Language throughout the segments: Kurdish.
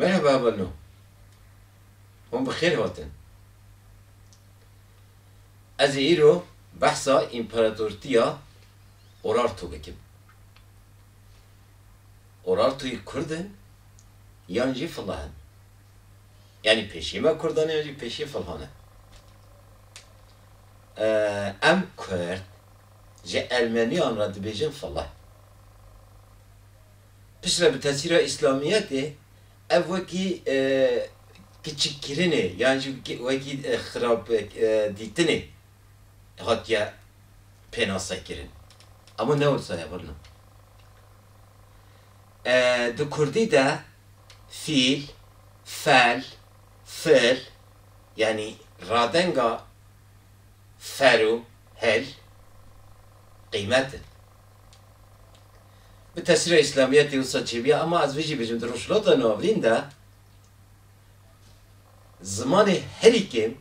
Merhaba Bano. Hûn bi xêr hatin. Ez ê îro behsa Împaratortiya Urartu bikim. Urartu'yî kurd in yan jî filah in? Yanî pêşî me kurdan e yan jî pêşî filihan e? Em kurd ji ermeniyan re dibêjin filah. Piştre bi tesîra îslamiyetê ev wekî kiçikkirinê yan jî wekî xirab dîtinê hatiye pênasekirin. Ama ne wisa ye birna. Di kurdî de fîl, fel, fil yanî radenga fer û hil qîymet in. Bi tesîra îslamîyetê wisa çêbîya ema ez vê jî bijim di rojhilata navîn de zimanê herî kêm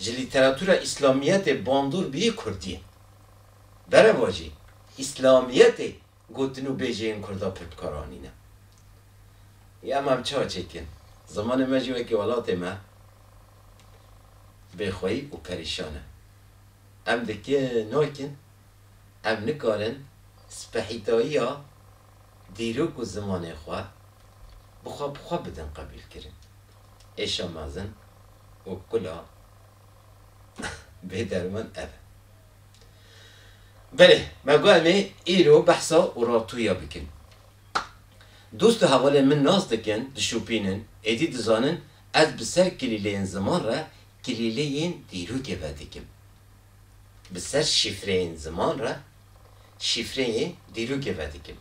ji lîteratûra îslamîyetê bandor bîyî kurdî ye. Bereva jî îslamîyetê gotin û bêjeyên kurda pir bikar anîne. Î ema em çawa çêkin? Zimanê me jî wekî welatê me bêxweyî û perîşan e. Em dikin nakin. Ev nikarin spehîtayiya dîrok û zimanê xwe bi xwe bi xwe bidin qebîlkirin. Êşa mezin û kula bêderman ev e. Belê, me got em ê îro behsa Urartuya bikin. Dost û hevalên min nas dikin, dişopînin, êdî dizanin ez bi ser kilîleyên ziman re kilîleyên dîrokê vedikim. Bi ser şîfreyên ziman re şîfreyê dîrokê vedikim.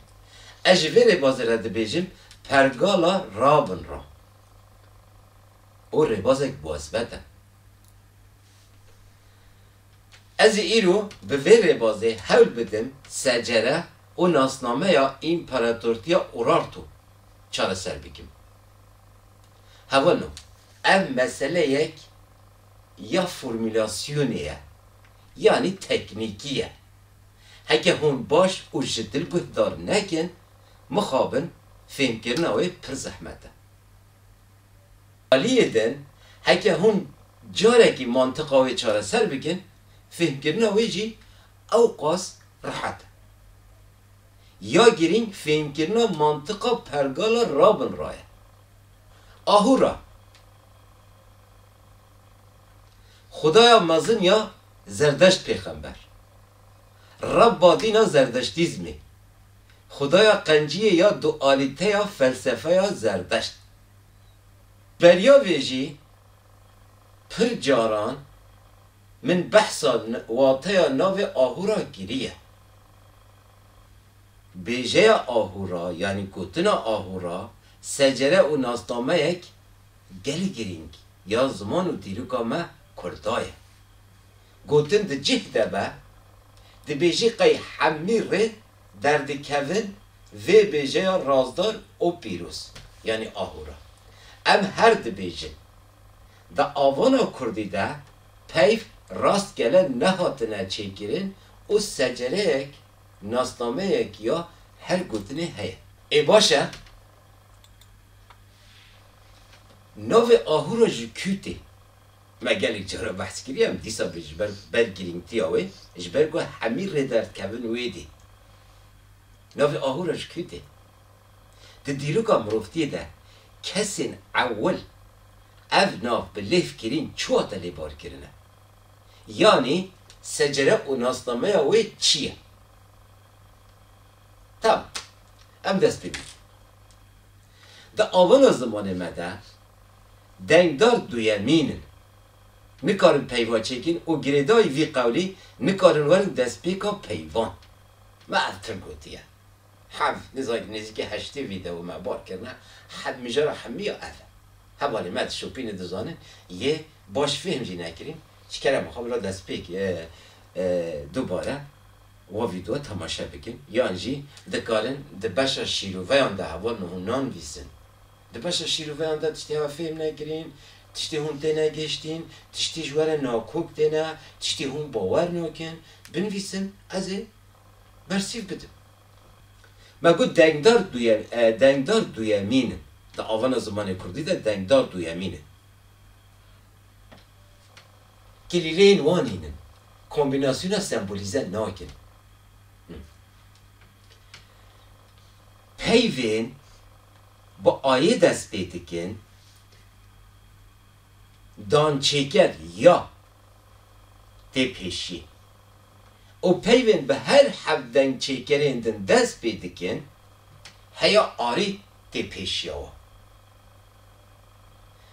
Ez ji vê rêbazê re dibêjim pergala rabin ra. O rêbazek bwesbet e. Ez ê îro bi vê rêbazê hewl bidim secere û nasnameya Împaratortiya Urartu çareser bikim. Hewano, ev meseleyek ya formulasyonê ye yanî teknîkî ye. Heke hûn baş û ji dil guhdar nekin, mixabin fêmkirina wê pir zehmet e. Aliyê din, heke hûn carekî mantiqa wê çareser bikin, fêmkirina wê jî ewqas rehet e. Ya girîng fêmkirina mantiqa pergala rabin ra ye. Ahûra Xwedaya mezin ya Zerdeşt Pêxember. Rebba din a Zerdeştîzmê. Xwedaya qenciyê ya dualîteya felsefeya Zerdeşt. Beriya vê jî pir caran min behsa wateya navê Ahura kiriye. Bêjeya Ahura yanî gotina Ahura secere û nasnameyek, Gelê girîng ya ziman û dîroka me Kurda ye. Gotin di cih de be, dibêjî qey hemî rê derdikevin vê bêjeya razdar û pîroz, yanî ahûra. Em her dibêjin. Di avana kurdî de peyv rastgele nehatine çêkirin û secereyek, nasnameyek ya her gotinê heye. Ê baş e, Navê ahûra ji kû tê? Me gelek caran behs kiriye em dîsa vê ji ber ber girîngtiya wê ji ber ku hemî rê derdkevin wê dê. Navê ahûra ji kû tê? Di dîroka mirovtiyê de kesên ewil ev nav bi lêv kirîn çi wate lêbar kirine? Yanî secere û nasnameya wê çi ye? Tamam. Em dest pê bînin. Di awana zimanê me de dengdar duyemîn in. Nikarin peyva çêkin û girêdayî vî qewlî nikarin werin destpêka peyvan. Me ev tim gotiye. Hev nizanî nêzîkî heştê vîdeo me bar kirine, hev mijara hemî ya ev e. Hevalê me dişopînin dizanin yê baş fêhm jî nekirîn, ji kerema xwe bila destpêk dubare. Wa vîdeo temaşe bikin yan jî dikarin di beşa şîroveyan de heval min hûn nanivîsin. Di beşa şîroveyan de tiştê hev fêm nekirîn, tiştê hûn têne gihiştîn, tiştê ji were nakok têne, tiştê hûn bawer nakin, binivîsin ez ê bersîv bidim. Me got dengdar duyem e, dengdar duyemîn in. Di avana zimanê kurdî de dengdar duyemîn in. Kilîleyên wan hîn in. Kombînasyona sembolîze nakin. Peyvên bi ayê dest pê dikin, dançêker ya tê pêşiyê û peyvên bi her heft dengçêkerên din dest pê dikin, heya arî tê pêşiya wan.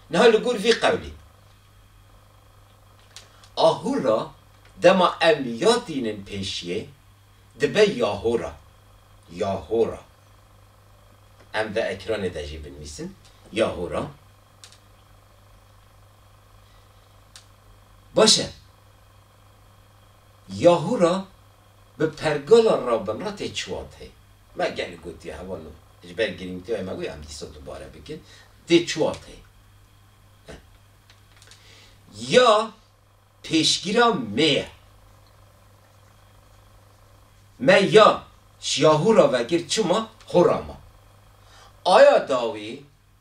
Niha li gor vî qewlê a hûr re dema em ya tînin pêşiyê dibe ya hora, ya hora. Em di ekranê de jî binivîsin ya hora. Baş e. Ya hora bi pergala rabin re tê çiwateyê. Me gelek gotiye hevalno ji ber girîngîtiya wê me wê em dîsa dubare bikin dê çiwar teye em ya pêşgîra mê ye me ya şiyahû ra vekir çima hora ma aya dawî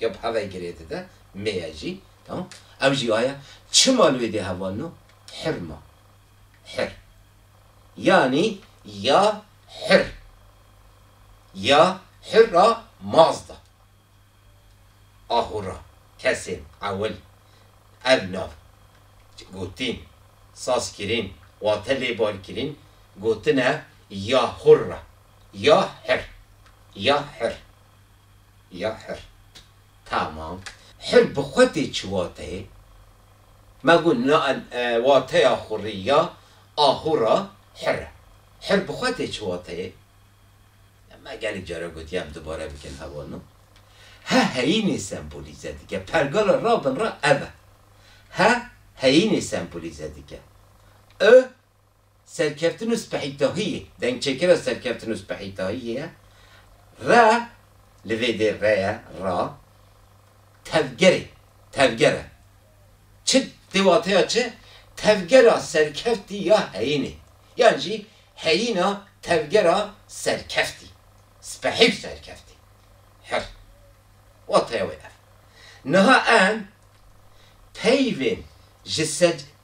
Ya bi hevayê girê dide, mê ye jî. Tamam. Ew jî aya, çima li wê dê hevalino? Hir ma. Hir. Yanî ya hir. Ya hir a maz da. Ahûra, kesên, ewil, ev nav, gotîn, sazkirîn, wate lêbalkirîn, gotine ya hûr re. Ya hir. Ya hir. Ya hir. Tamam. Hir bi xwe tê çi wateyê? Me got na wateya xurî ya ahûra hir e. Hir bi xwe tê çi wateyê? Me gelek caran gotiye em dubare bikin heval no. He heyînê sembolîze dike. Pergala rabin re ev e. He heyînê sembolîze dike. I Serkeftin û spehîtahiyê, dengçêkira serkeftin û spehîtahiyê ye. Re, li vê dê re ye, ra, tevgerê, tevger e. Çi, dê wateya çi? Tevgera serkeftî ya heyînê. Yan jî heyîna tevgera serkeftî. Spehî û serkeftî. Hir. Wateya wê ev. Niha em peyvên ji.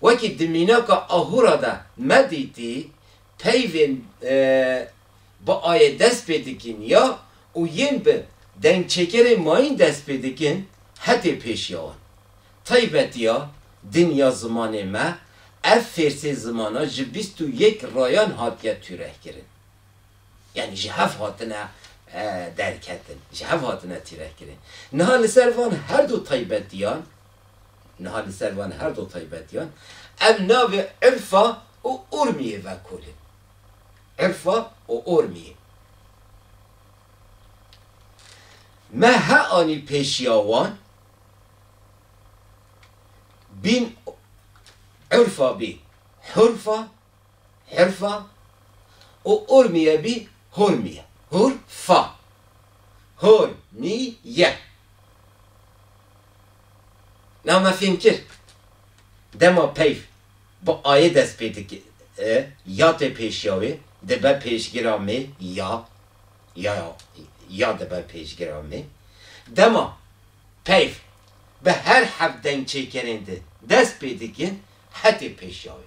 Wekî di mînaka Ahûra de me dîtî, peyvên bi ayê dest pê dikîn ya û yên bi dengçêkerên mayîn dest pê dikin hetê pêşiya wan. Taybetiya din ya zimanê me, ev fêrsê zimana ji bîst û yek rayan hatiye tûrehkirin. Yanî ji hev hatine derketin, ji hev hatine tîrehkirin. Niha li ser van herdu taybetiyan, Niha li ser van her du taybetiyan em navê Irfa û Urmiyê vekolin. Irfa û Urmiyê me he anî pêşiya wan, bîn Urfa bî Hurfa. Hurfa û Urmiye bî Hurmiye. Hurfa. Hurmiye. Niha me fêm kir dema peyv bi ayê dest pê dike ya tê pêşiya wê dibe pêşgira mê ya ya ya dibe pêşgira mê. Dema peyv bi her hevdengçêkerên di dest pê dikin hetê pêşiya wê.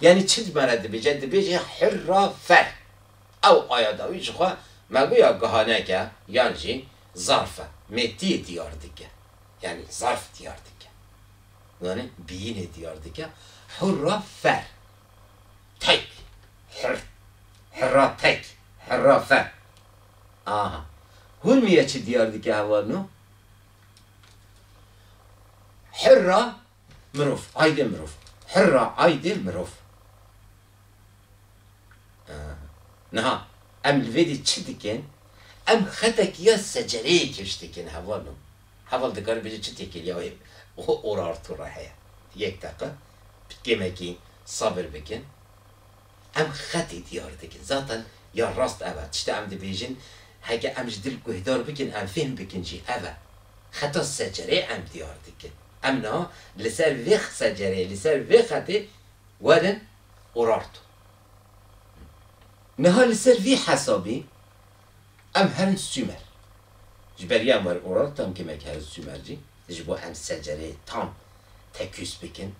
Yanî çi dimare dibêje? Dibêje hurra fer. Ew aya dawî ji xwe meguya gihanek e yan jî zarf e. Mêtiyê diyar dike. Yanî zarf diyar dike. Zanî biyînê diyar dike. Hurra fer. Tek. Hurr. Hurra tek. Hurra fer. Aha. Hûrmîye çi diyar dike hevalno? Hurra. Mirov, aydê mirov. Hirra, aydê mirov. Niha em li vê dî çi dikin? Em xetek ya secereyê kêş dikin heval o. Heval dikare bêje çi tê kir ya wê orarto re heye. Yek deqe bi kêmekî sabir bikin. Em xetê diyar dikin. Zaten ya rast ev e. Tişta em dibêjin, heke em ji dil guhdar bikin, em fêhm bikin jî ev e. Xeta secerê em diyar dikin. Em niha li ser vê secereyê, li ser vê xetê werin Urartu. Niha li ser vî hesabî em herin Sumer. Ji ber yan werin Urartu em kimek herin Sumer jî. Ji bo em secereyê tam tekûs bikin,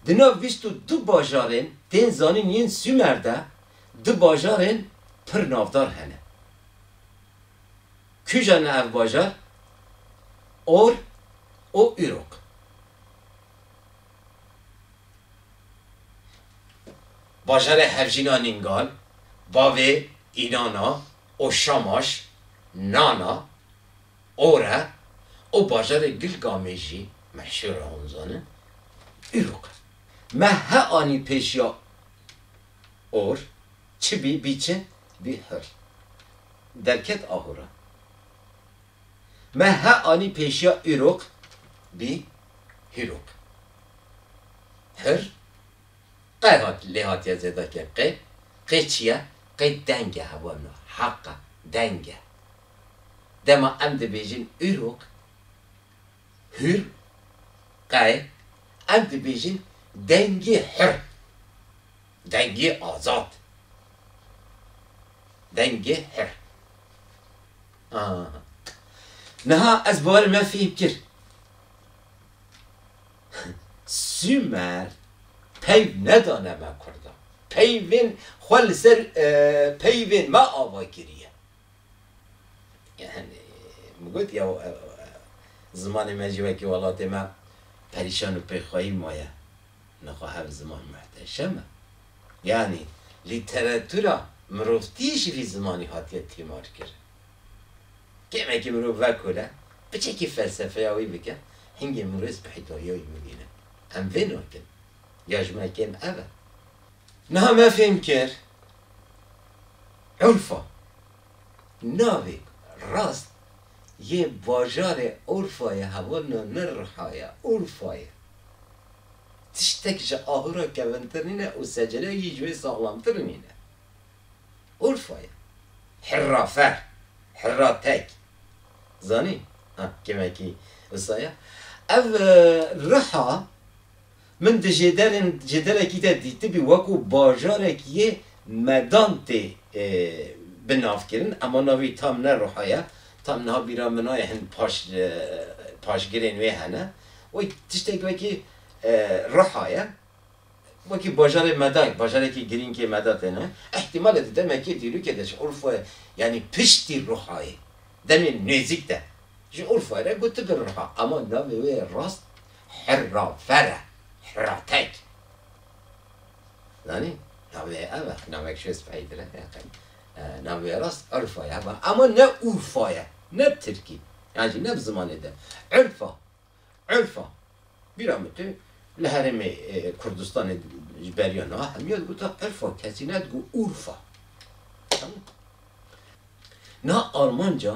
Di nav bîst û du bajarên tên zanîn yên Sûmer de du bajarên pir navdar hene. Kûja ne ev bajar? Or û Uruk. Bajarê hevjîna Nîngal, bavê Înana û Şamaş, Nana, Ora û bajarê Gil Gamê jî me hişê ra hûn zanin. Îro qe me he anî pêş ya Or çi bî bî çi bî hir derket aho ra. Me he anî pêşiya Îroq bî Hîroq. Hir qe hat lê hatiye zêdakê qê qê çi ye qê deng e hewa na heq e deng e Dema em dibêjin Îrûq, hür, qey, em dibêjin dengê hür, dengê azad, dengê hür. Ah. Niha ez baweri me fêm kir. Sumer peyv nedane me kurdan. Peyvên xwe li ser peyvên me ava kiriye. Yani min got ya zimanê me jî wekî welatê me perîşan û pêxweyî maye. Min xwe ev ziman muhteşem e. Yanî lîteratûra mirovtî ji vî zimanî hatiye tîmarkirin. Kêmekî mirov vekole, biçekî felsefeya wî bike, hingê mirov spîhîtariya wî bibîne. Em vê nakin. Ya ji me kêm ev e. Niha me fêm kir. Urfa, navek rast yê bajarê Urfa yê hevrna li Riha ye. Urfa ye. Tiştek ji ahura kevintir nîne û secere jî ji wê saxlamtir nîne. Urfa ye. Hirra fer, hirra tek. Zanî? Ha, kêmekî wisa ye. Ev Riha. Min di jêderên jêderekî de dîtibî wekû bajarek yê medan tê bi nav kirin ema navî tam ne ruha ye. Tam niha bîra min aye hin paş paşgirên wê hene. Wê tiştek wekî ruha ye. Wekî bajarê medan bajarekî girînkê meda têne. Îhtîmal e di demekê dîrokê de ji Urfayê yanî piştî ruhayê demên nêzîk de ji Urfayê re gotibi ruha ema navê wê rast Hirrafer e, hirratek. Zanî? Navê ye ev e, navek ji speyî tira ye. Navê ye rast Urfa ye hema. Ema ne Urfa ye, ne bi tirkî. Yan jî ne bi zimanê din. Urfa, Urfa. Bîra min tê, li herêmê Kurdistanê ji beriya niha hemî ya digotin Urfa, kesî nedigot Urfa. Niha Almanca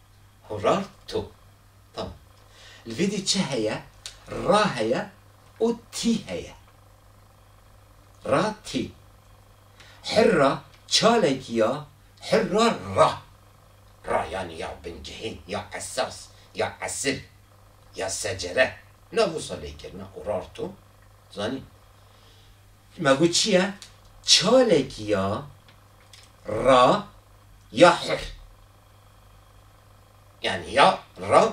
Horar to. Tamam. Li vê dî çi heye? Ra heye û tî heye. Ra tî. Hirra çalekî ya, hirra ra. Ra yanî ya bincihên, ya esas, ya esil, ya secere. Na wisa lê kirina horar to. Zanî. Me got çi ye? Çalekî ya ra ya hir. Yanî ya ram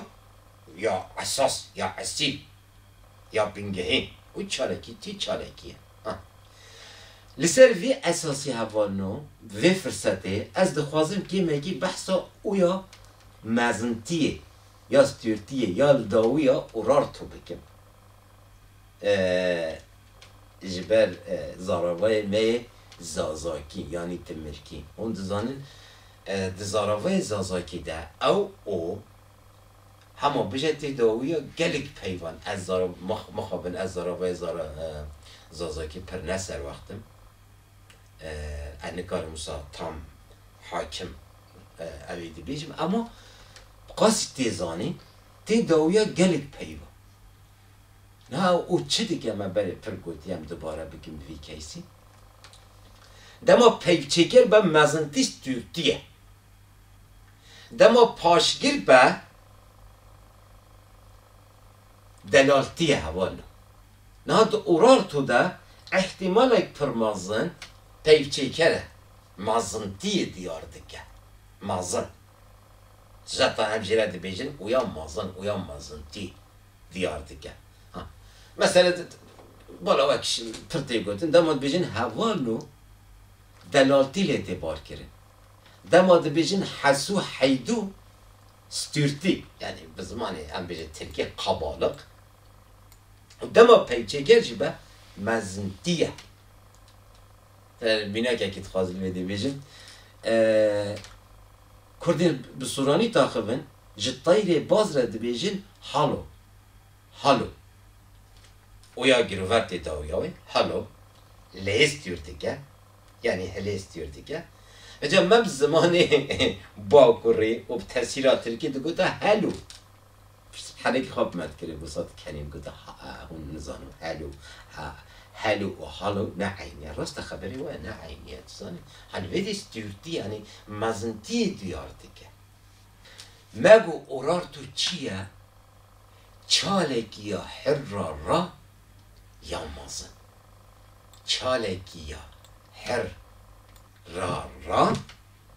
û ya esas ya esîl ya bingehên û çalakî tî çalakî ye. Ha. Li ser vê esasê hevalin û vê firsetê ez dixwazim kêmekî behsa û ya mezintiyê ya stûrtiyê ya li dawî ya ûrarto bikim. Ji ber zaravayê me yê Zazakî yanî Timirkî. Hûn dizanin di zaravayê Zazakî de ew, o, hema bije têdawiya gelek peyvan. Ez mixabin ez zaravayê Zazakî pir ne serwext im. Ez nikarim wisa tam hakim ew ê dibêjim. Ema qasî tê zanîn têdawiya gelek peyvan. Niha û çi dike me berê pir gotî em dubare bikin bi vî keysî? Dema peyvçêkir be mezintîş tûrtî ye. Dema paşgir be delaltî ye heval na. Niha di Urartu de îhtîmalek pir mezin peyvçêkir e. Mezintîyê diyar dike. Mezin. Ji heta em jî re dibêjin ûya mezin, ûya mezintî. diyar dike. Ha mesele bala wek pir tê gotin dema dibêjin heval û delaltî lê tê barkirin. Dema dibêjin hesû heydû stûrtî yanî bi zimanê em bêjin tirkî qebaliq û dema peyçeger jî be mezintî ye. Te mînakekî dixwazin vê dê bêjin. Kurdên bi sûranî taxivin ji tayrê baz re dibêjin halo, halo. Oya girover tê dawiya wê, halo, lêz tîur dike, yanî hilêz tîur dike. Îca me bi zimanê bakurî û bi tesîra tirkî digote helo. Pişt bi helekî xwe bi me dikirî wisa dikenîm gote ha hûn nizano helo ha helo û halo ne eyn e. Rast e xeberê we ne eyn e tu zanî. Hanî vê dî stûrtî yanî mezintiyê duyar dike. Me got Urartu çi ye? Çalekî ya hirra ra ya mezin. Çalekî ya hir ra ra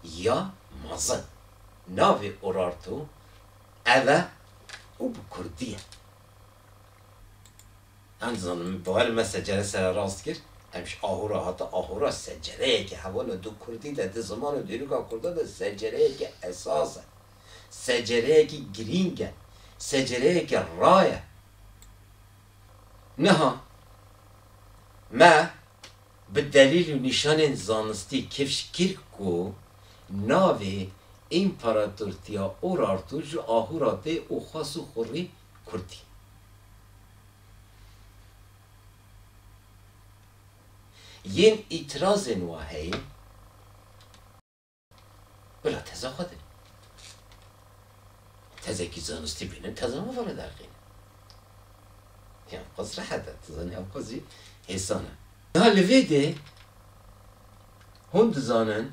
ya mezin. Navê Urartu. Ev e û bi kurdî ye. Em dizanin min bal me secere sere rast kir, em ji aho re hate aho re secereyeke heval e. Di kurdî de, di ziman û dîroka kurdan de secereyeke esas e. Secereyekî girîng e. Secereyeke raye. Niha me bi delîl û nîşanên zanistî kifş kir ku navê Împaratortiya Urartu ji ahuratê û xas û xurrî kurt î. Yên îtirazên wa heye. Bila teza xwe de. Tezekî zanistî bînin teza min vara derxîn. Ya qas rehet e, tu zanî ew qasî hêsan e. Ya li vê de hûn dizanin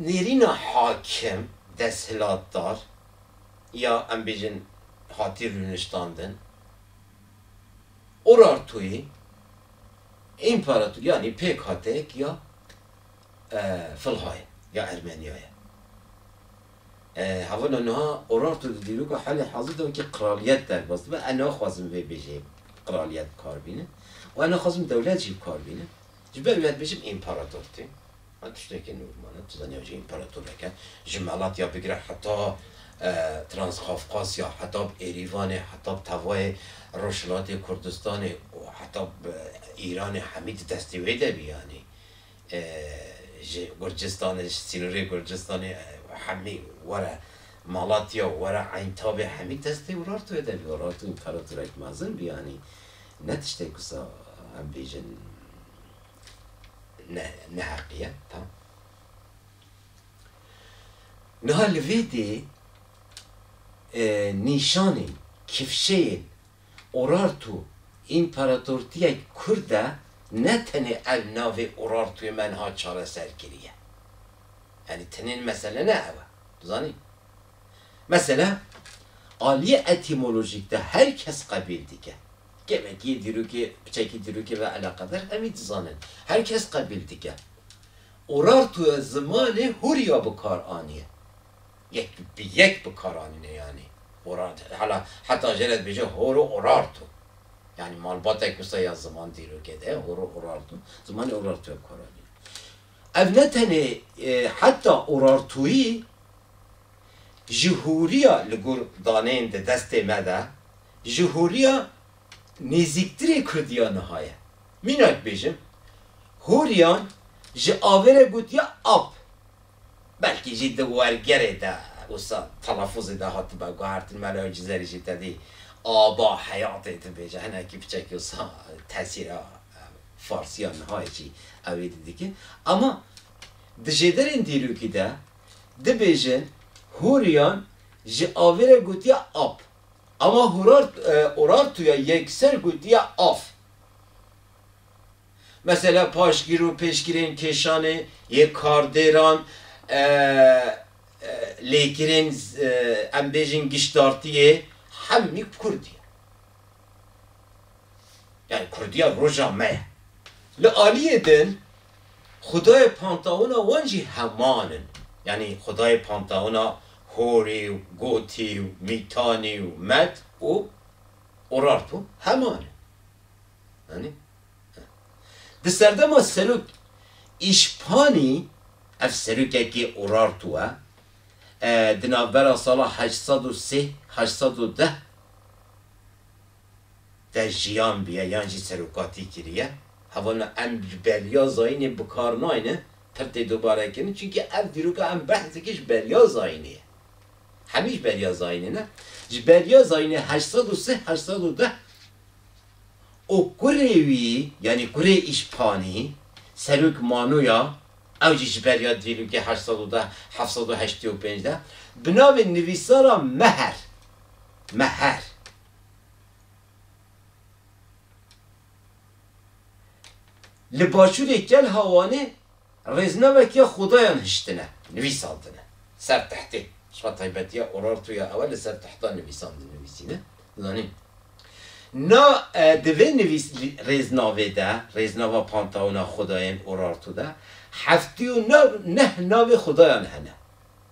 nêrîna hakim, desthilatdar ya em bêjin hatî rûniştandin, Urartuyê, Împarator yanî pêkhatek ya Filhayê ya Ermeniyayê ye. Havana niha Urartu di dîroka halê hazir de wekî qraliyet derbas dibe. Ew naxwazin vê bêjeyê qraliyet bi kar bîne û ew naxwazin dewlet jî bi kar bîne. Ji ber wê ez dibêjim împarator tê. Ev tiştekî normal e. Tu zanî ev jî împeratorek e. Ji Malatya bigire heta Transqafqasya, heta bi Erîvanê, heta bi tevayê Rojhilatê Kurdistanê û heta bi Îranê hemî di destê wê de bî yanî. Ji Gurcistanê, ji sînorê Gurcistanê hemî were Malatya û were Eyntabê hemî di destê Urartu wê de bî. Urartu împeratorek mezin bî yanî. Ne tiştek wisa em bêjin. ne neheqiye tam. Niha li vî dê e, nîşanên, kifşeyên Urartu împaratortiyek kurd e ne tenê ev navê Urartuê me niha çareser kiriye. Yanî tenê mesele ne ew e. Dizanî? Mesela aliyê etîmolojîk de her kes qebîl dike. Kevekî, dîrokê, piçekî dîrokê ve eleqedar hemî dizanin. Her kes qebîl dike. Urartu ya zimanê hûrya bikar anîye. Yek bi yek bikar anîne yanî. Urartu, hala heta jê re dibêje horo urartu. Yanî malbatek wisa ya ziman dîrokê de horo urartu, zimanê urartu ya bikar anîne. Ev ne tenê heta urartuyî ji hûriya li gor daneyên di destê me de, ji hûriya nêzîktirê Kurdiya niha ye. Mînak bêjim, hûriyan ji avê re gotiya ap. Belkî jî di wergerê de wisa telafuzê de hatibe guhertin, mela wê cizerî jî tedî aba heyatê dibêje, hinekî piçekî wisa tesîra farsiya niha yê jî ew êdî dike. Ama di jêderên dîrokî de, dibêjin Hûriyan ji avê re gotiya ap, ama Urartu ya yekser gotiya af. Mesela paşgîr û pêşgirên kêşanê yê kardêran, lêkirên em bêjin giştdartiyê hemî bi kurdî ye. Yani kurdiya roja me ye. Li aliyê din xwedayê pantawina wan jî heman in. Yani xwedayê pantawina Horî û Gotî û Mîtanî û Med û Urartu heman in. Anî? Di serdema serok Îşpanî, ev serokekî Urartu e, di navbera sala heşt sed û sê, heşt sed û deh te jiyan bûye yan jî serokatî kiriye. Hevana em ji beriya zayînê bi kar nayne pir tê dubare kirin çunkî ev dîroka em behs dikin ji beriya zayînê ye. Hemî ji beriya zayînê ne. Ji beriya zayînê heşt sed û sih heşt sed û deh û kurê wî yanî kurê îşpanî serok Manoya ew jî ji beriya dîrokê heşt sed û deh heft sed û heştê û pênc de bi navê nivîsara Meher me her li başûrê Kel Hawanê rêznevekiya Xudayan hiştine nivîsandine ser tehtê. Çima taybetiya Urartuya ew e li ser tehta nivîsan dinivîsîne. Zanîn na di vê nivîs rêznavê de, rêznava Pantaona Xudayên Urartu de heftî û neh navê xudayan hene.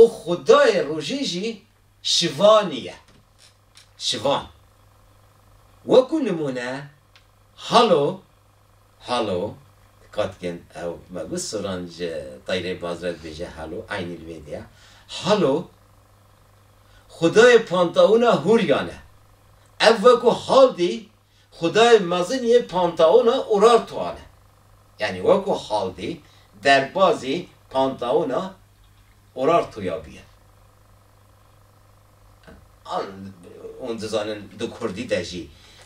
û xwedayê rojê jî Şivanî ye. Şivan, wekû nimûne Halo, Halo, dikkat bikin ew me got soran ji Tayrê Bazra dibêje Halo, eynî li vê de ye. Halo, xwedayê pantawûna Hûryan e. Ev wekû Haldî Xwedayê mezin yê pantaona Urartuan e. Yanî weko haldê derbazê pantaona Urartuya bûye. An hûn dizanin di kurdî de jî,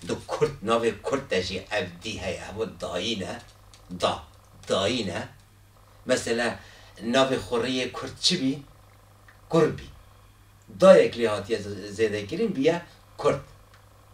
di kurd navê kurd de jî ev dî heye, hema dayî ne, da, dayî ne. Mesela navê xurrî yê kurd çi bî? Kur bî. Dayek lê hatiye zêdekirîn bûye kurd.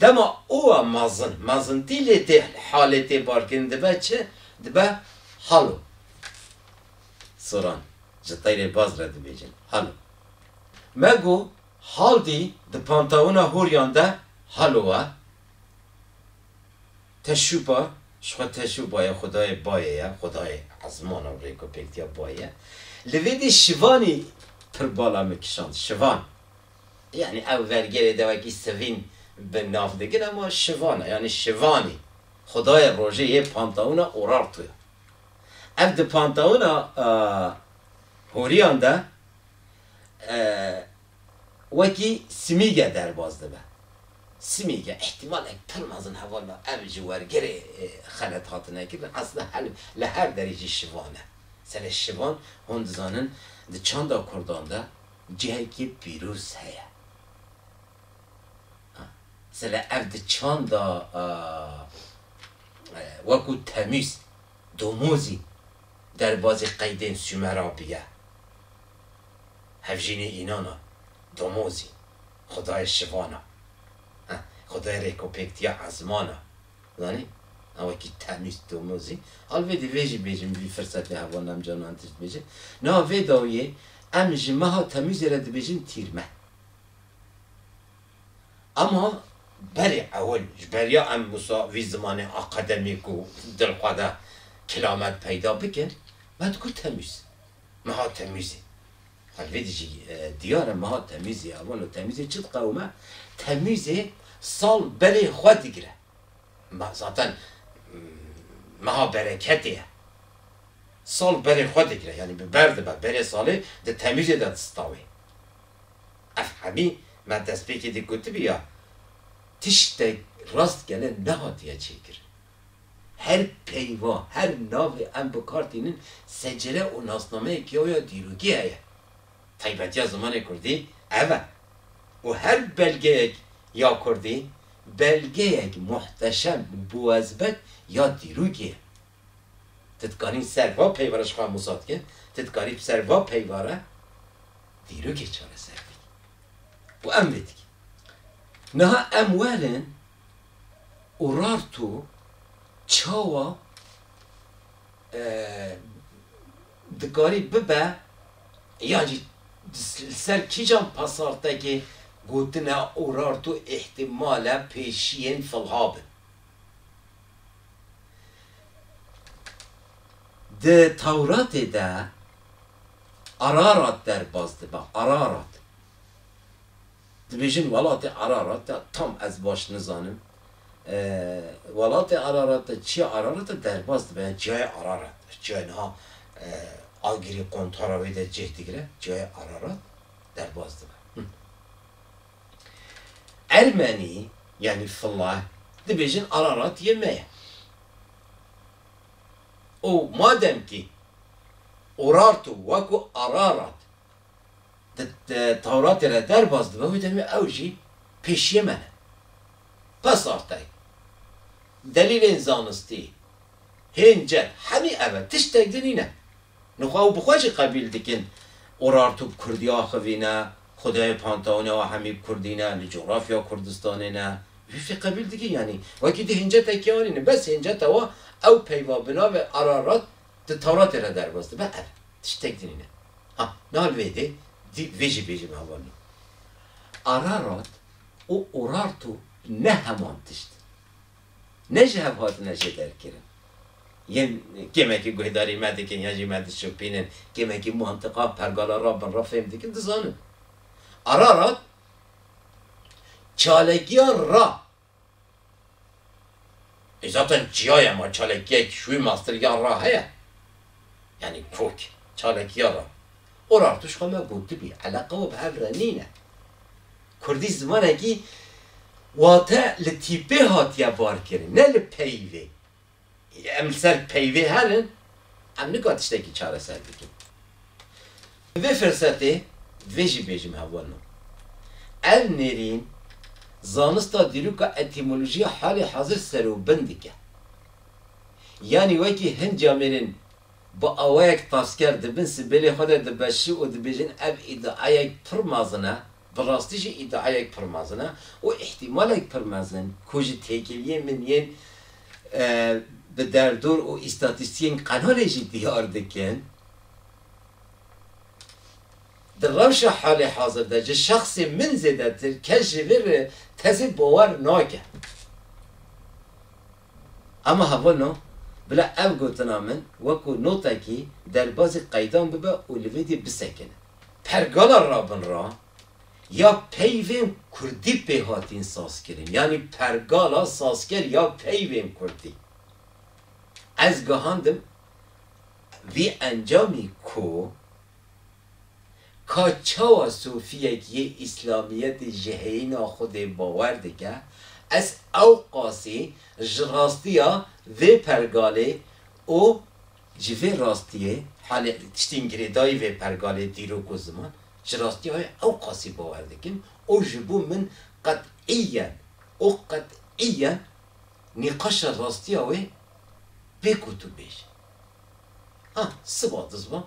Dema owa mezin, mezintî lê tê halê tê barkirin dibe çi? Dibe halo. Soran ji teyrê baz re dibêjin halo. Me got haldî di pantawina horiyan de halo we. Teşûpa ji xwe teşûpa ye xwedayê bayê ye, xwedayê ezman û rêkopêktiya bayê ye. Li vê dî şivanî pir bala min kişand. Şivan. Yanî ev vergêrê de wekî sivîn bi nav dikin ama şivan e yanî şivanî xwedayê rojê yê pantawûna Urartu ye. Ev di pantawûna horiyan de wekî simîge derbas dibe. Simîge îhtîmalek pir mezin heval da ev ji wergêrê xelet hatine kirin esla her li her derî jî şivan e. Serê şivan hûn dizanin di çanda kurdan de Cihekî pîroz heye. Sele ev di çanda wekû temîz, domozî derbazî qeydên Sumera bîye. Hevjînê înan a, domozî, xwedayê şivan a. Xwedayê rêkopêktiya ezman a. Zanî? A wekî temîz tomozî. Alvedî vê jî bêjim vî firsetê hevwa nem ca nan tişt bêje. Niha vê dawiyê em ji meha temîzê re dibêjin tîrme. Ema berê ewil ji ber ya em wisa vî zimanê akademîk û dilxwe de kilamet peyda bikin me digot temîz. Meha temîzê. Vê dijî diyar e meha temîzê ya wano temîzê çi diqewime? Temîzê sal berê xwe digire. Me zaten meha bereketê ye. Sal berê xwe digire yanî bi ber dibe berê salê di temîzê de distawê. Ev hemî me destpêkê de gotibî ya tiştek rastgele nehatiye çêkirin. Her peyva, her navê em bi kar tînin secere û nasnameyekî xwe ya dîrokî heye. Taybetiya zimanê kurdî ev e û her belgeyek ya kurdî belgeyek muhteşem û biwezbet ya dîrokî ye. Ti dikanî ser va peyvara ji xwe mûsa dike, ti dikanî ser va peyvara dîrokê çareser bikî û em vê dikin. Niha em werin. Urartu çawa dikarî bibe yan jî li ser kîjan pasartekê gotina Urartu îhtîmal e pêşiyên filha bin? Di Tewratê de Ararat derbas dibe, Ararat. Dibêjin welatê Ararat e, tam ez baş nizanim welatê Ararat e, çiya Ararat e derbas dibe ya çiyayê Ararat e, çiyayê niha Agirî qontara wê de cih digire, çiyayê Ararat derbas dibe. Ermenî yanî Fılah dibêjin Ararat yê me ye. Û madem kî Urartu wekû Ararat di Tewratê re derbas dibe wê demê ew jî pêşiyê me ne. Pes artay. Delîlên zanistî hên ced hemî ev e, tiştek din nîne. Nixwe ew bi xwe jî qebîl dikin Urartu bi kurdî axivîne, Xwedayê Panteonê wa hemî bi kurdî ne, li cografya Kurdistanê ne. Wê fê qebîl dikin yanî. Wekî di hêncete kê anîne. Bes hêncete wa ew peyva bi navê Ararat Di Tewratê re derbas dibe ev tiştek din ne. Ha niha li vê dê dî vê jî bêjin Avalon. Ararat û Urartu ne heman tişt in. Ne ji hev hatine jê derkirin. Yên kêmekî guhdarî me dikin yan jî me dişopînin, kêmekî mantiqa pergala rabin re fêm dikin dizanin. Ararat çalakiya ra E zaten çiyaya ma çalekiyek şûyê mastirgiyan ra heye. Yanî kok, çalekiya ra. Urartuş xwe me gotibî, eleqa we bi hev re nîne. Kurdî zimanekî wate li tîpê hatiye varkirin, ne li peyivê. Em li ser peyvê herin, em nika tiştekî çareser bikin. Bi vê firsetê divê jî bêjim hevweno. Ev nêrîn zanista dîroka etîmolojiya halê hazir ser û bin dike. Yanî wekî hin camêrên bi awayek tasker di bin sibêlê xwe de dibeşi û dibêjin ev îdiayek pir mezin e, Bi rastî jî îdiayek pir mezin e û îhtîmalek pir mezin ku ji têkiliyên min yên bi derdor û îstatîstiyên qelalê jî diyar dikin, di rewşa halê hazir de ji şexsê min zêdetir kes ji vê re tezê bawer nake. Hema heval no, bila ev gotina min wekû notekî derbazî qeydan bibe û li vê dî bisekine. Pergala Rabin re ya peyvên kurdî pê hatin sazkirin, yanî pergala sazker ya peyvên kurdî. Ez gihandim vî encamî ku ka çawa sofiyek yê îslamiyetê ji heyîna Xwedê bawer dike, ez ewqasî ji rastiya vê pergalê û Ji vê rastiyê halê tiştên girêdayî vê pergalê dîrok û ziman ji rastiya wê ewqasî bawer dikin û ji bo min qet'îyen û qet'îyen nîqaşa rastiya wê bê ku tu bêjî ha siva dizva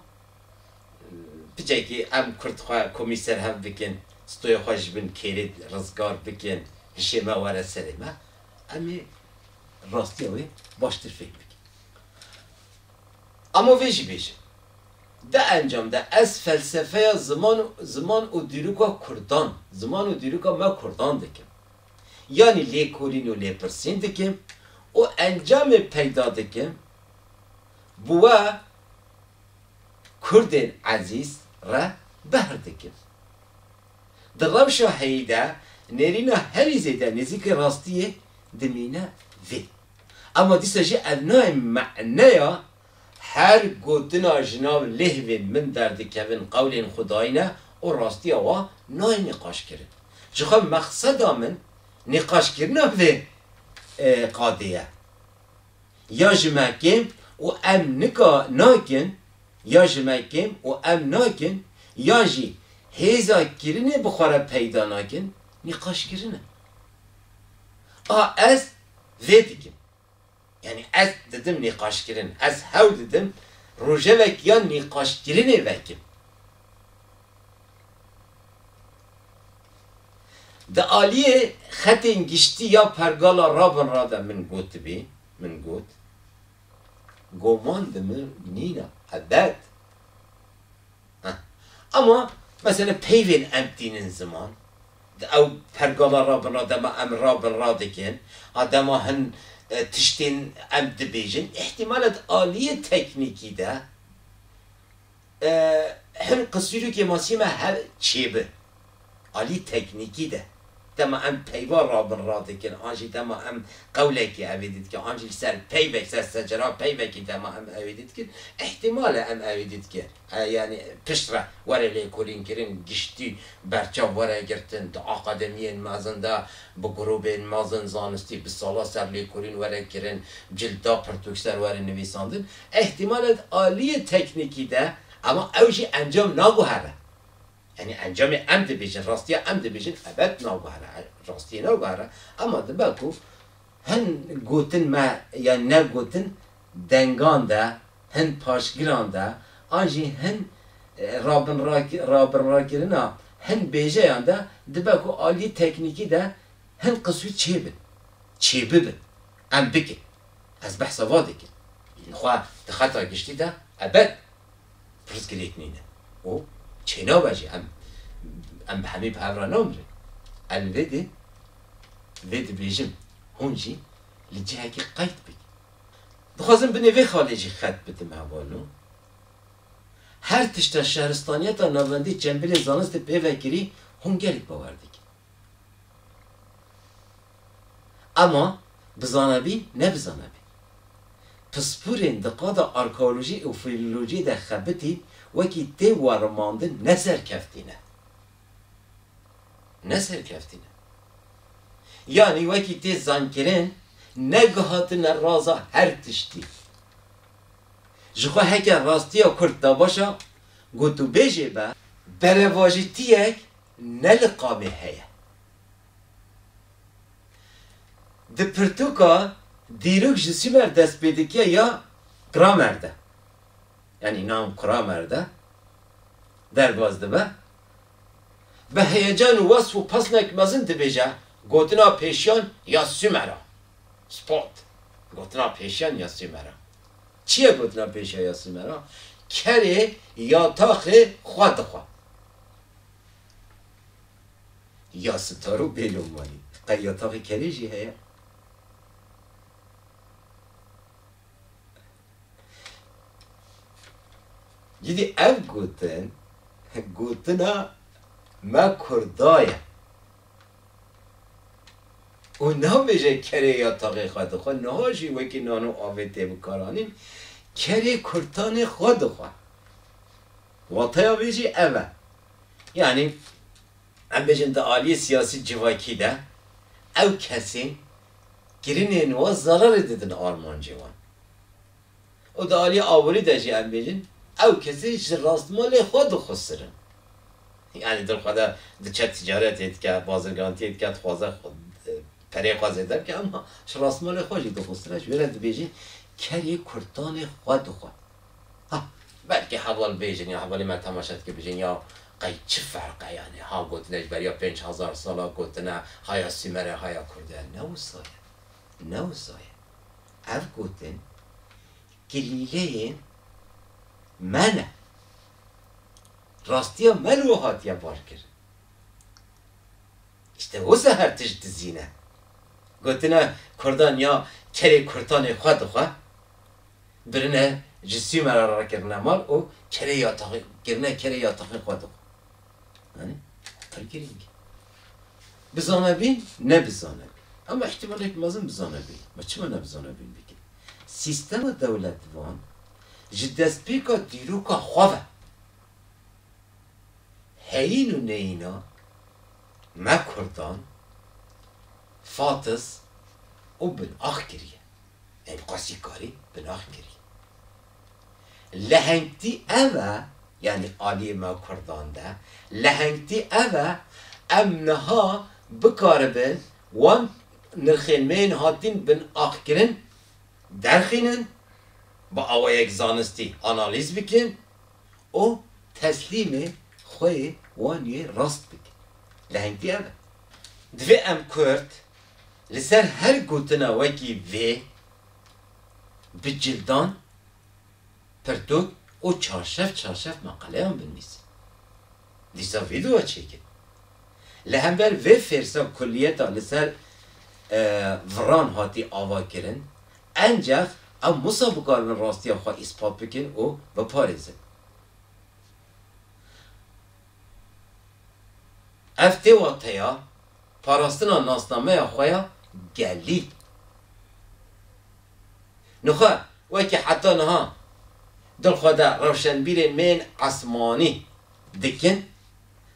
picekî em kurd xwe komî serhev bikin stoya xwe ji bin kêrê rizgar bikin hişê me were serê me em ê rastiya wê baştir fêhm bikin. Ama vê jî bêjim, di encam de ez felsefeya ziman û ziman û dîroka kurdan, ziman û dîroka me kurdan dikim. Yanî lêkolîn û lêpirsîn dikim û encamê peyda dikim bi we kurdên ezîz re behr dikim. Di rewşa heyî de nêrîna herî zêde nêzîkê rastiyê dimîne vê. Ema dîsa jî ev nayê me'neya her gotina ji nav lêhvên min derdikevin qewlên xwedayîn e û rastiya wan nayê nîqaşkirin. Jixwe mexseda min nîqaşkirina vê qadê ye. Ya ji me kêm û em nika nakin, ya ji me kêm û em nakin, yan jî hêza kirinê bi xwe re peyda nakin, nîqaşkirin e. A ez vê dikim. Yanî ez didim nîqaşkirin. Ez hewl didim rojevek ya nîqaşkirinê vekim. Di aliyê xetên giştî ya pergala rabinra de min gotibî, min got, Goman di min nîn e, ebed. Heh. Ama mesela peyvên em tînin ziman. Di ew pergala rabin re dema em rabin radikin a dema hin tiştên em dibêjin îhtîmal e di aliyê teknîkî de hin qisîrokê masî me hev çêbin. Aliyê teknîkî de dema em peyva rabin radikin an jî dema em qewlekê ew ê didikin an jî li ser peyvek li ser secera peyvekê dema em ew ê didikin îhtîmal e em ew ê didikin. Yanî pişt re were lêkolînkirin, giştî berçav were girtin. Di akademiyên mezin de bi grûbên mezin zanistî bi sala ser lêkolîn were kirin, cild da pirtûk ser were nivîsandin. Îhtîmal e di aliyê teknîkî de ema ew jî encam naguhere. Yanî encamê em dibêjin, rastiya em dibêjin ebed naguhere, rastiyê naguhere ema dibe ku hin gotin me yan ne gotin dengan de, hin paşgiran de an jî hin rabinrakirina hin bêjeyan de dibe ku aliyê teknîkî de hin qisû çêbin, çêbibin, em bikin. Ez behsa va dikim. Xwe di xeta giştî de ebed pirsgirêk nîne û çênabe jî. Em em bi hemî bi hev re namirin. Ez li vê dê vê dibêjim hûn jî li cihekî qeyd bikin. Dixwazim binê vê xalê jî xet bidim hevalo. Her tişta şehristaniyeta navendî çembîlên zanistê pê vekirî hûn gelek bawer dikin. Ema bizane bîn ne bizane bîn. Pispûrên di qada arkeolojî û filolojiyê de xebitîn wekî tê werimandin ne serkeftî ne. ne serkeftî ne. Yanî wekî tê zankirin negihatine raza her tiştî. Ji xwe heke rastiya kurd da baş a, gotûbêjê be, berevajitiyek ne li qamê heye. Di pirtûka dîrok ji Sûmer dest pê dike ya Kramer de, yanî Naum Kramer de derbas dibe, Bi heyecan û wesf û pesnek mezin dibêje, Gotina pêşiyan ya Sumer a. Spot, Gotina pêşiyan ya Sumer a. Çi ye gotina pêşiyan ya Sumer a? Kerê ya taxê xwe dixwe. Ya sitar û bêlom welî qey ya taxê kerê jî heye. Cîdî ev gotin gotina me Kurda ye û nabêje kerê ya taxê xwe dixwe niha jî wekî nan û avê tê bikaranîn kerê kurtanê xwe dixwe. Wateya vê jî ev e. Yanî em bêjin di aliyê siyasî civakî de ew kesên Kirinên wan zerarê didin armancê wan. Û di aliyê awirî de jî em bêjin ew kesî ji rastmalê xwe dixwusir in. Yanî di xwe de diçe ticaretê dike, bazirgantiyê dike, dixwaze pereyê xwe zêde bike, em ji rastmalê xwe jî dixwusir e. Ji wê re dibêjin kerê kurtanê xwe dixwe. Ha, belkî heval bêjin ya hevalê me temaşe dike bijin ya qey çi ferqe yanî ha gotine ji beriya pênc hezar sal a gotine ha ya Sûmer e ha ya Kurd e. Ne wisa ye. Ne wisa ye. Ev gotin kilîleyên me ne. Rastiya me li we hatiye barkirin. Îşte wisa her tişt dizîne. Gotine Kurdan ya kerê kurtanê xwe dixwe. Birine ji Sûmer re rakirine mal û kerê ya taxî kirine kerê ya taxî xwe dixwe. Anî? Pir girîng e. Bizanebîn, ne bizanebîn. Ama îhtîmalek mezin bizanebîn. Ma çima ne bizanebîn bikin? Sîstema dewletvan ji destpêka dîroka xwe ve heyîn û neyîna me Kurdan fatis û bin ax kiriye. Ev bi qasî karî bi nax kirî. Lehengtî ev e, yanî aliyê me kurdan de, lehengtî ev e, em niha bikaribin wan nirxên me yên hatîn bin ax kirin derxînin, bi awayek zanistî analîz bikin û teslîmê xwe yê wan yê rast bikin. Lehengtî ev e. Divê em kurd Li ser her gotina wekî vê bi cildan, pirtûk û çarşev çarşev meqaleyan binivîsin. Dîsa vîdeoya çêkin. Li hember vê fêrsa kuliyeta li ser viran hatî avakirin, encex em wisa bikaribin rastiya xwe îspat bikin û biparêzin. Ev tê wateya parastina nasnameya xwe ya gelî. Nixwe wekî heta niha dil xwe de rewşenbîrên me yên esmanî dikin,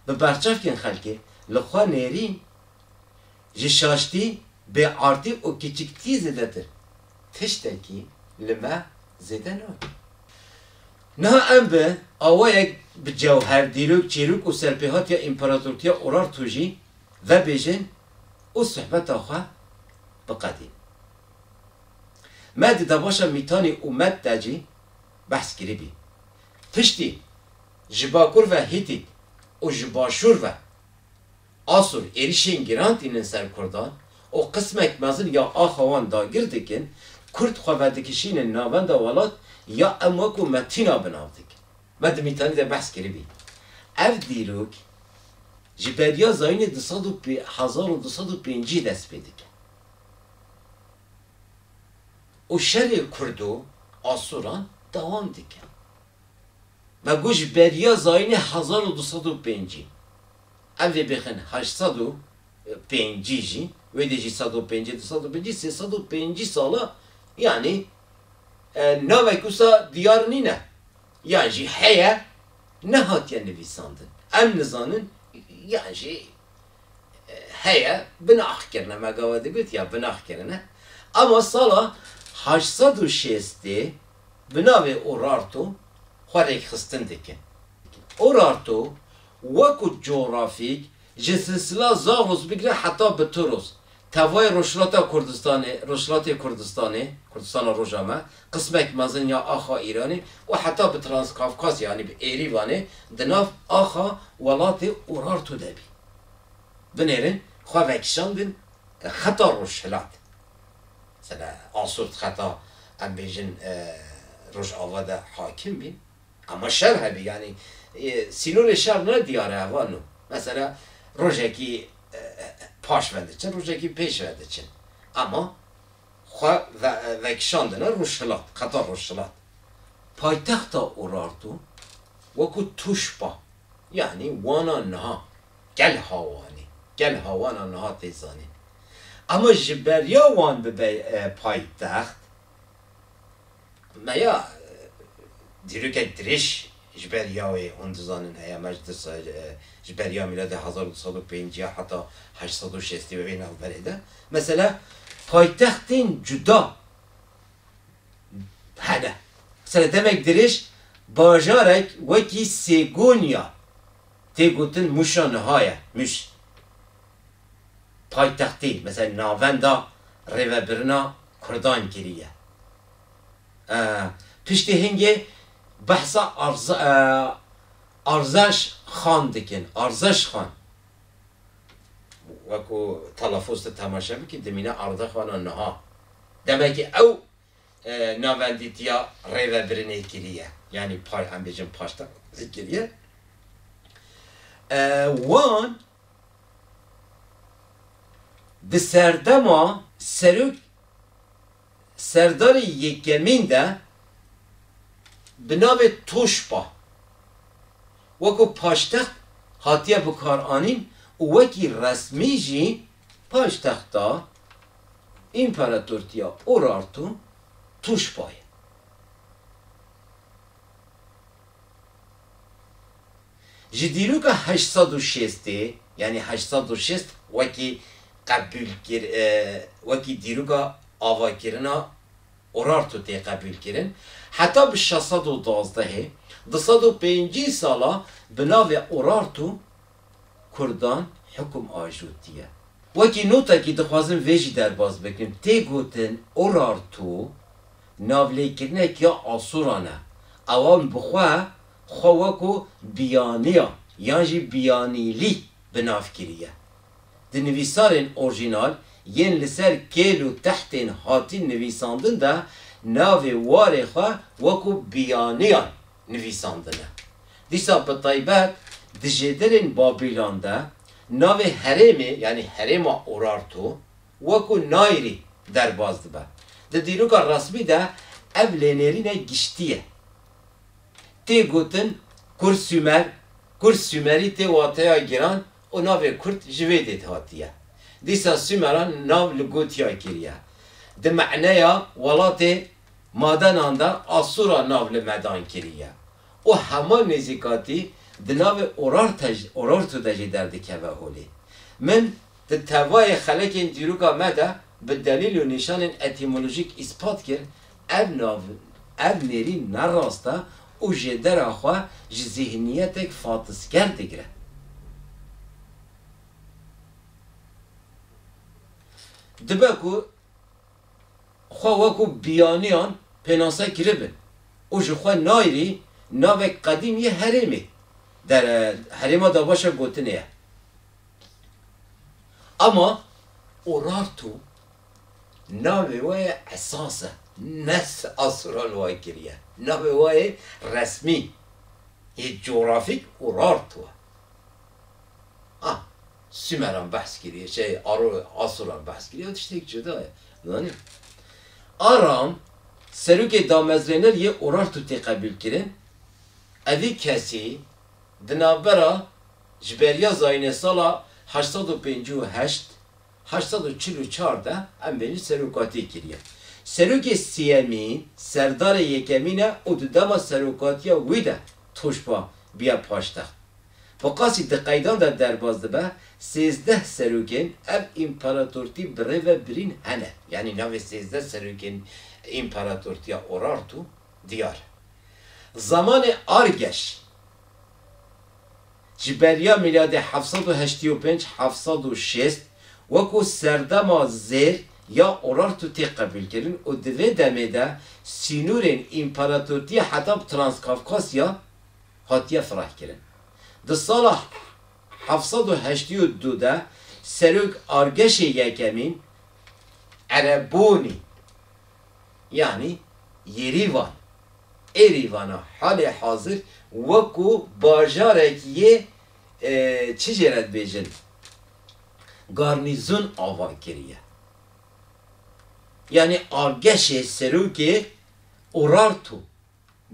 bi berçavkên xelkê li xwe nêrîn, ji şaştî, bêartî û kiçiktî zêdetir tiştekî li me zêde nake. Niha em bi awayek bi cewher, dîrok, çîrok û serpêhatiya Împaratortiya Urartu jî vebêjin û suhbeta xwe biqedîn. Me di debaşa Mîtanî û Med de jî behs kiribî. Piştî ji bakur ve Hîtît û ji başûr ve Asûr êrîşên giran tînin ser kurdan û qismek mezin ya axa wan dagir dikin, kurd xwe vedikişînin navenda welat ya em wekû me tîna bi nav dikin. Me di mîtanî de behs kiribî. Ev dîrok ji beriya zayînê du sed û hezar û du sed û pêncî dest pê dike û şerê kurd û asûran dewam dike. Me got ji beriya zayînê hezar û du sed û pêncî. Ev jî bixin heşt sed û pêncî jî, wê dê jî sed û pêncî, du sed û pêncî, sê sed û pêncî sal e. Yanî navek wisa diyar nîne yan jî heye nehatiye nivîsandin. Em nizanin yan jî heye binax kirine, me gawe digot ya binax kirine. Ema sala heşt sed û şêstê bi navê Urartu xwe rêkxistin dikin. Urartu, wekû cografîk, ji silsila Zagros bigire heta Bitiros, tevayê Rojhilata Kurdistanê, Rojhilatê Kurdistanê, Kurdistana Roja me, qismek mezin ya axa Îranê û heta bi Transkafkasya yanî bi Êrîvanê di nav axa welatê Urartu de bî. Binêrin xwe vekişandin xeta Rojhilat. Mesela Asûrt xeta em bêjin Rojava de hakim bîn. Ama şer hebî yanî sînorê şer ne diyar e heva no. Mesela rojekî paş ve diçin rojekî pêş ve diçin. Ama xwe vekişandine rojhilat qeta rojhilat. Paytexta Urartu wekû tûşba yanî wana niha gel hawanî gel hawana niha tê zanîn. Ama ji beriya wan bibe paytext. Me ya dîrokek dirêj ji ber ya wê hûn dizanin heye. Me ji dirsa ji ber ya mîladê hezar û du sed û pênc ya heta heşt sed û şêst ya wê navberê de mesela paytextên cuda hene. Mesela demek dirêj bajarek wekî Sêgonya tê gotin Mûşa niha ye. Mûş paytextê mesela navenda rêvebirina Kurdan kiriye. Piştî hingê behsa Arzeş Xan dikin. Arzeş Xan. Wek ku telafûz tu temaşe bikî dimîne Arze Xan a niha. Demekî ew navendîtiya rêvebirinê kiriye. Yanî em bêjin paştek kiriye. Wan Di serdema serok serdarên yekemîn de bi navê Toşpa weko paştext hatiye bikaranîn û wekî resmî jî paytexta Împaratortiya Urartu Toşpa ye. Ji dîroka heşt sed û şêstê, yanî heşt sed û şêst wekî qebûl kir wekî dîroka avakirina Urartu tê qebûl kirin, heta bi şeş sed û duwazdehê, du sed û pêncî sala bi navê Urartu Kurdan hikum ajotiye. Wekî notekî dixwazin vê jî derbas bikin, tê gotin Urartu navlêkirinek ya Asuran e. Ewan bi xwe, xwe weko Biyaniyan yan jî Biyanîlî bi nav kiriye. Di nivîsarên orjînal yên li ser kêl û tehtên hatîn nivîsandin de navê warê xwe weko Biyaniyan nivîsandine. Dîsa bi taybet di jêdilên Babîlan de navê herêmê yanî herêma Urartu wekû Nairî derbas dibe. Di dîroka resmî de ev lênêrîne giştî ye. Tê gotin Kur-Sûmer, Kur-Sûmerî tê wateya giran û navê Kurd ji vê dêt hatiye. Dîsa Sûmeran nav li Gotya kiriye. Di maneya welatê Madenan de asûra nav li medan kiriye û hema nêzîkatî di navê Urartu de jî derdikeve holê. Min di tevayê xelekên dîroka me de bi delîl û nîşanên etîmolojîk îspat kir ev nav, ev nêrîn ne rast e û jêdera xwe ji zîhniyetek fatisger digire. Dibe ku. xwe wekû biyaniyan pênase kiribe û ji xwe nayrî navek qedîm yê herêmê der e, herêma davaşa gotinê ye ama Urartu navê we yê esas e ne Asural way kiriye, navê we yê resmî yê cografîk Urartu e. Sumeran behs kiriye, şey Aro Asoran behs kiriye o tiştek cuda ye. Zanî Aram serokê damezrêner yê Urartu tê qebûl kirin. Evî kesî di navbera ji beriya zayînê sala heşt sed û pêncî û heşt, heşt sed û çil û çar de em bêjin serokatiyê kiriye. Serokê siyemîn serdarê yekemîn e û di dema serokatiya wî de toşba biya paştext. Bi qasî di qeydan de derbas dibe, sêzdeh serokên ev împaratortî bi rê ve birîn hene. Yanî navê sêzdeh serokên împaratortiya Urartu diyar e. Zamanê Argeş, ji beriya mîladê heft sed û heştî û pênc heft sed û şêst, wekû serdema zêr ya Urartu tê qebûlkirin û di vê demê de sînorên împaratortiya heta bi Transkavkasya, hatiye firehkirin. Di sala heft sed û heştî û du de serok argeşê yekemîn Erebûnî yanî Yêrîvan, Erivan, a halê hazir wekû bajarek yê çi jê re dibêjin garnîzon ava kiriye. Yanî argeşê serokê Urartu.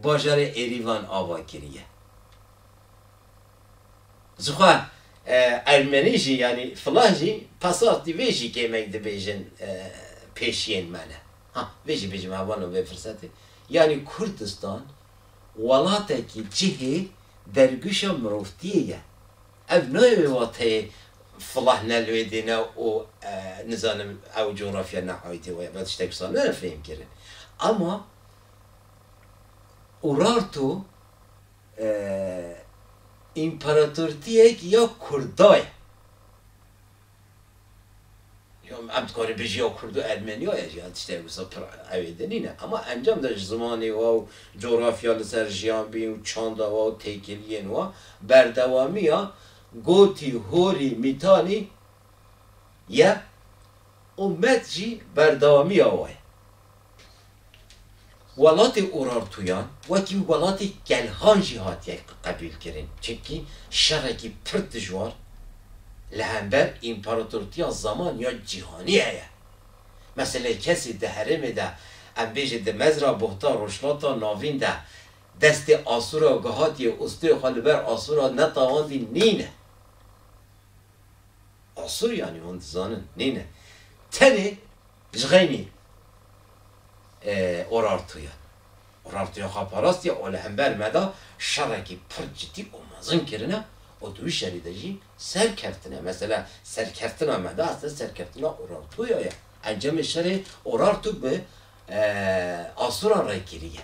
bajarê Erîvan ava kiriye. Zixwe ermenî jî yanî filah jî pesaqtî vê jî kêmek dibêjin pêşiyên me ne. Ha vê jî bêjim heval o vê firsetê. Yanî Kurdistan welatekî cihê derguşa mirovtiyê ye. Ev nayê wateyê filah ne li wê dê ne û nizanim ew cografya ne aîdê we ye. Vê tiştek wisa nene fêhmkirin. Ema Urartu împaratortiyek ya Kurda ye. Em dikarî bijî ya Kurd û Ermeniya ye jî, tiştek wisa pir ewê din nîn e. Ema encam de ji zimanê wa û cografya li ser jiyabîn û çanda wa û têkiliyên wa berdewamiya gotî, horî, mîtanî ye û met jî berdewamiya we ye. Welatê Urartuyan wekî welatê Kelhan jî hatiye qebîlkirin çimkî şerekî pir dijwar li hember împaratortiya zaman ya cîhanî heye. Meselê kesê di herêmê de em bêjin di Mezra Buhta Rojhilata Navîn de destê Asûra gihatîye û stûyê xwe li ber Asûra netawandî nîne. Asur yanî hûn dizanin nîn e. Tenê ji xeynî Urartu ye. Urartu ya xwe parastiye û li hember me de şerekî pir cidî û mezin kirine û di wî şerî de jî serkevtine. Mesela serkevtina me de aslê serkevtina Urartu ya ye. Encamê şerê Urartu bi Asuran re kiriye.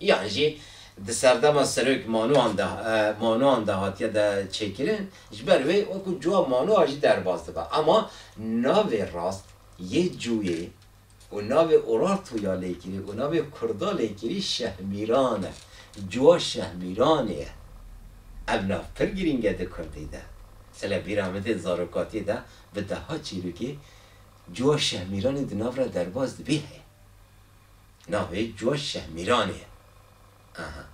Yan jî di serdema Serok Manoan de Manoan de hatiye de çêkirin, ji ber wê wekû cuwa Manoa jî derbas dibe. Ema navê rast yê cuyê û navê Urartu ya lêkirî û navê kurda lêkirî Şehmîran e. Cuwa Şehmîranê ye. Ev nav pir girîng e di kurdî de. Sê le bîra min tê zarokatiyê de bi deha çîrokî cuwa Şehmîranê di nav re derbas dibî heye. Navê cû Şehmîranê ye. Aha.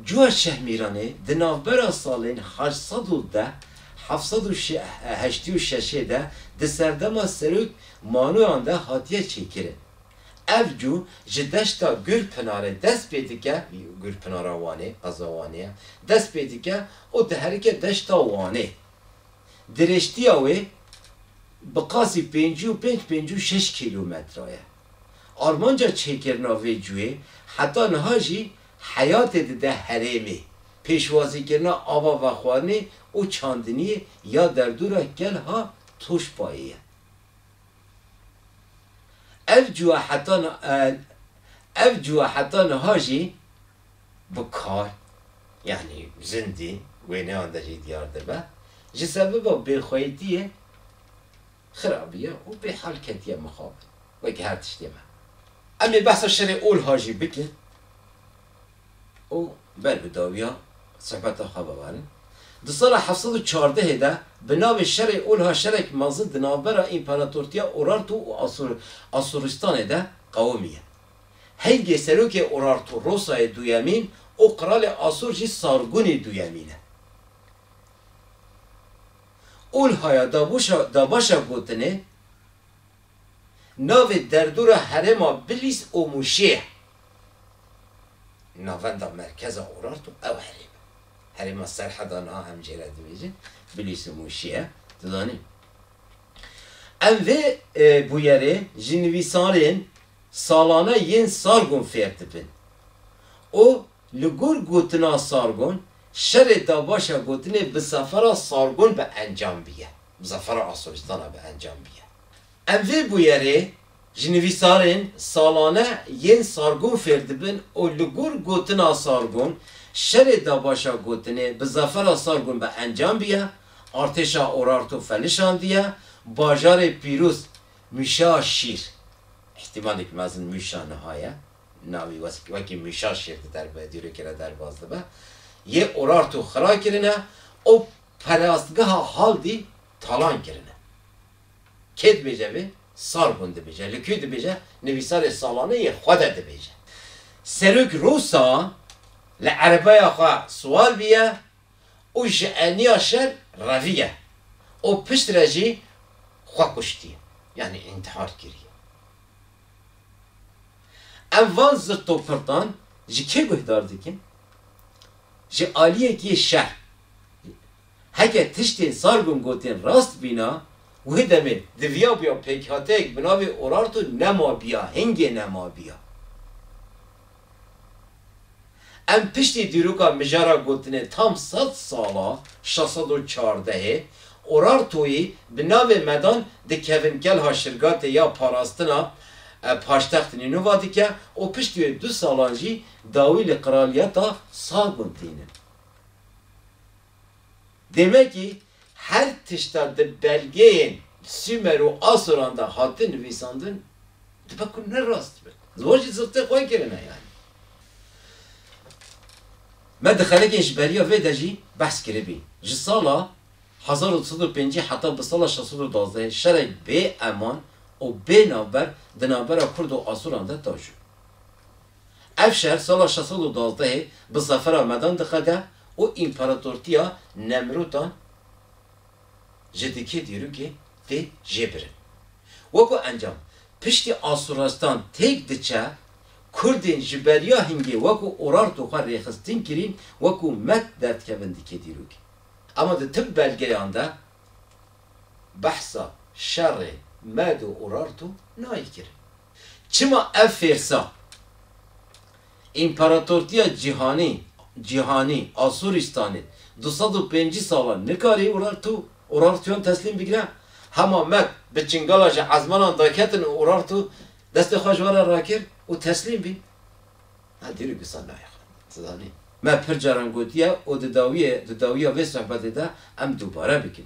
Cû Şehmîranê di navbera salên heşt sed û deh heft sed û heştî û şeşê de di serdema serok Manoyan de hatiye çêkirin. Ev cû ji deşta Gurpinarê dest pê dike, Gurpinara Wanê, qeza Wanê ye, dest pê dike û diherike deşta Wanê. Dirêjtiya wê bi qasî pêncî û pênc pêncî û şeş kîlometre ye. Armanca çêkirina vê cuyê heta niha jî heyatê dide herêmê, pêşwazîkirina ava vexwarinê û çandiniyê ya derdora Kelha Toşpayê ye. Ev cuya heta ev cuya heta niha jî. bi kar yanî zindî wêneyan derî diyar dibe, ji sebiba bêxweytiyê xirabiye û bêhal ketiye mixabin. Wekî her tiştê me. Em ê behsa şerê Olha jî bikin û ber bi dawiya sohbeta xwe bibarin. Di sala heft sed û çardehê de bi navê Şerê Olha şerek mezin di navbera Împaratortiya Urartu û Asûristanê de qewimiye. Heygê serokê Urartu Rosayê duyemîn û qralê Asur jî Sargunî duyemîn e. Ulhaya Dabaşa gotinê navê derdora herêma Bilîs û Mûşê ye. Navenda merkeza Urartu ew herêm e. Herêma Serheda niha em jê re dibêjin Bilîs û Mûşê ye. Tu zanî em vê bûyerê ji nivîsarên Salane yên Sargon fêr dibin û li gor gotina Sargon şerê dabaşa gotinê bi zafera Sargon bi encam biye, bi zafera Asorîstana bi encam biye. Em vê bûyerê ji nivîsarên Salane yên Sargon fêr dibin û li gor gotina Sargon şerê dabaşa gotinê bi zafera Sargon bi encam biye, artêşa Orarto felişandiye, bajarê pîroz Mûşa şîr, îhtîmalek mezin mûşa niha ye, navê wekî mûşa şîr di derve dîrokê de derbas dibe, yê Urartu xira kirine û perastgeha Haldî talan kirine. Kê dibêje vê? Sargon dibêje. Li ku dibêje? Nivîsarê salane yê xwe de dibêje. Serok Rosa li erebaya xwe siwar bûye. û ji eniya şer reviye û pişt re jî xwe kuştiye yanî întihar kiriye. Em van zirtopirtan ji kê guhdar dikin? Ji aliyekî şer. Heke tiştên Sargon gotên rast bîna, wê demê diviyabûya pêkhateyek bi navê Urartu nemabiya, hingê nemabiya. Em piştî dîroka mijara gotinê tam sed sal a şeş sed û çardehê Urartoyî bi navê Medan dikevin kelha Şirgatê ya parastina paştext Nînova dike û piştî wê du salan jî dawî li qiraliyeta Sagun tînin. Demekî her tişta di belgeyên Sûmer û Asoran de hate nivîsandin dibe ku ne rast be. Wan jî zixtê xwe kirine yanî. Me di xelekên ji beriya vê de jî behs kiribî. Ji sala hezar û du sed û pêncî heta bi sala şeş sed û duwazdehê şerek bêeman û bênavber di navbera Kurd û Asoran de taşû. Ev şer sala şeş sed û duwazdehê bi zafera medan diqede û împaratortiya Nemrûdan ji dikê dîrokê tê jêbirin. Weko encam, piştî Asurestan têk diçe, Kurdên ji beriya hingê weko Urartu xwe rêxistin kirîn weko Med derdikevin dikê dîrokê. Ema di tim belgeyan de behsa şerê Med û Urartu nayê kirin. Çima ev fêrsa Împaratortiya Cîhanî, Cîhanî, Asûrîstanê du sed û pêncî salan nikarî Urartu, Urartuyan teslîm bigire? Hema Meg bi çingala ji ezmanan daketin û Urartu destê xwe ji we re rakir û teslîm bîn. Ev dîrok wisa nayê xwe. Ti zanî, me pir caran gotiye û di dawiyê, di dawiya vê sohbetê de em dubare bikin.